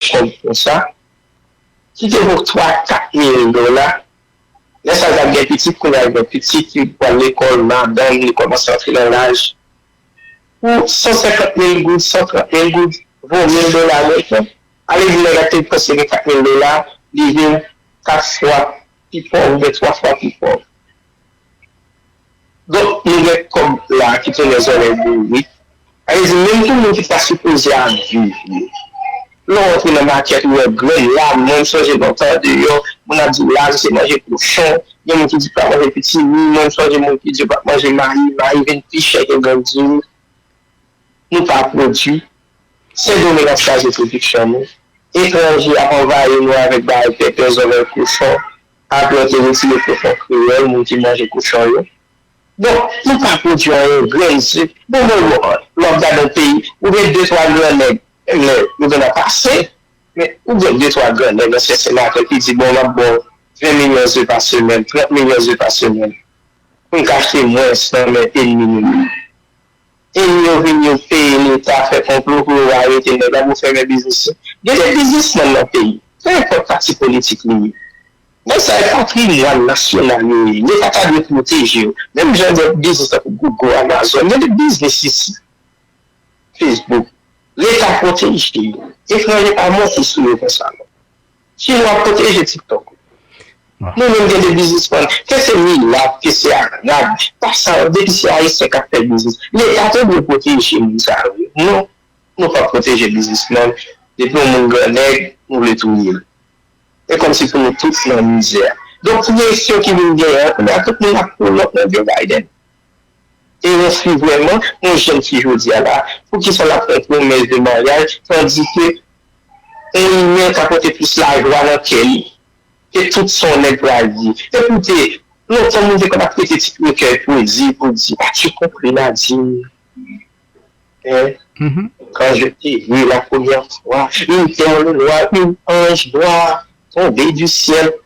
kòb konsa, ki te vo 3, 4 mil dola, lè sa l t ap gen pitit, kounye a l gen pitit, li pral lekòl, madanm li kòmanse antre nan laj, pou 150 mil goud, 130 mil goud, vo mil dola mwen tou, ale di nèg la ki te panse gen 4 mil dola, li vin 4 fwa pi pòv oubyen 3 fwa pi pòv. Donk nou gen kòb la ki tounen zòrèy bourik. Sa vle di menm pou moun ki ta sipoze ap viv yo. Lè w rantre nan makèt ou wè grenn la, mwen m sonje lontan deyò, moun ap di w lavi se manje kochon, gen moun ki di pa manje pitimi, mwen m sonje moun ki di yo pa t manje mayi, mayi vin pi chè ke grenn diri. Nou pa pwodui. Sendomeng ap kraze pwodiksyon nou. Etranje ap anvayi nou avèk bagay pèpè zòrèy kochon. Apre yo te retire kochon kreyòl, moun ki manje kochon yo. Donk, nou pa pwodui anyen, grenn, sik. Bon mwen wè w, lè w ap gade yon peyi, ou gen de twa gran nèg, lè yo gen ap pase, men ou gen de twa gran nèg, ansyen senatè ki di, bon m ap ba w 20 milyon ze pa semèn, 30 milyon ze pa semèn, pou n ka achte mwens nan men enmi nou yo. Epi yo vin yo peye leta fè konplo pou yo arete nèg la pou fèmen biznis yo. Gen de biznisman nan peyi, pe enpòt pati politik li ye, nèg sa yo patrimwàn nasyonal yo ye, leta ta dwe pwoteje yo. Menm jan de biznis tankou Gogo, Amazon, gen de biznis isi, Facebook, leta pwoteje yo. Etranje pa monte sou yo konsa non. Chinois ap proteje tiktok ou. Nou menm gen de biznisman ke se milat ke se arab pa sa yo depi se ayisyen kap fè biznis leta te dwe proteje moun sa yo wi non nou pap proteje biznisman depi yon moun gran nèg nou vle touyel e kòmsi pou nou tout nan mizè donk presyon ki vin genyen an kounya tout moun ap kolòk nan Joe Biden. Eros li vrèman yon jèn fi jodia la poukisa lap fè pwomès de maryaj tandike yon imen ka pote plis lajwa nan kè li ke tout sa yon nèg pral di e koute lontan moun te konn ap rete ti trekèy pwezi pou di a tu compris Nadine hein quand je t'ai vu la première fois une perle noire une ange noire tomber du ciel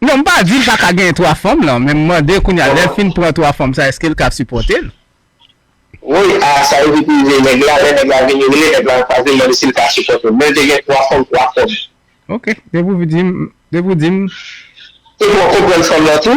Non m pa di l pa ka genyen 3 fanm lan men m mande kounya lè l fin pran 3 fanm sa eske l ka sipòte l. Woy ah sa yo vit rive nèg la lè nèg la vini rele nèg la anfas li l mande si l ka sipòte l men l te gen 3 fanm 3 kòb. Ok depi w di m depi w di m. Te pran konprann fanm lan tou.